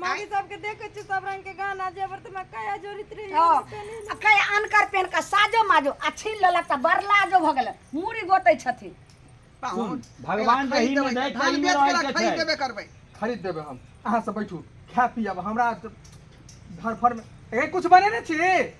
मौगी सबके देखे छी सब रंग के गाना जेवर त मैं कया जोड़ित रही हँ आ कई अनकर पेन का साजो माजो आ छीन लेलक तऽ बड़ लाजो भऽ गेलै मूड़ी गोतै छथिन सुन, भगवान रही में दै, कहीं में रहै के छै। देबे करबै खरीद देबै हम अहाँ सब बैठू खा पियब हमरा धरफर में ए कुछ बने ने छी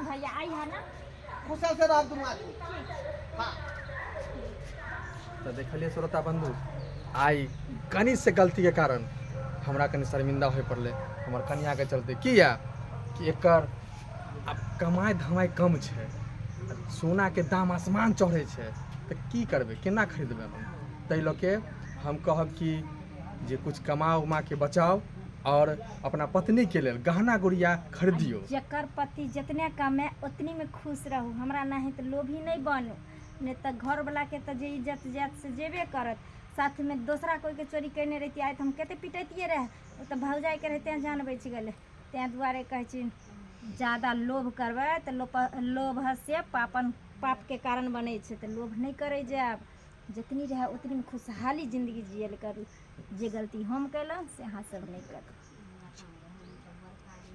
भैया आई है ना कुशल से रह दुनू आदमी हाँ तऽ देखलियै श्रोता बंधु आइ कनि से गलती के कारण हमरा कनि शर्मिंदा होय पड़लै हमर कनिया के चलते किया कि एकर आब कमाई धमाई कम छै आ सोना के दाम आसमान चढ़ै छै तऽ की करबै केना खरीदबै हम ताहि लऽ के हम कहब कि जे कुछ कमा उमा के बचाउ आओर अपना पत्नीके लेल गहना गुड़िया खरीदियौ जकर पति जितने कमे उतनीमे खुश रहू हमरा नहि तऽ लोभी नहि बनू नहि तऽ घरवलाके तऽ जे इज्जत जायत से जेबे करत साथमे दोसरा कोइके चोरी कयने रहितियै आइ तऽ हम कतेक पिटैतियै रहए ओ तऽ भौजाइके रहै तेँ जान बचि गेलै तेँ दुआरे कहै छी जादा लोभ करबै तऽ लोभ लोभसँ पापन पापके कारण बनै छै तऽ लोभ नहि करै जायब जतनी रहए उतनीमे खुशहाली जिन्दगी जियल करू जे गलती हम कयलहुँ से अहाँसभ नहि करू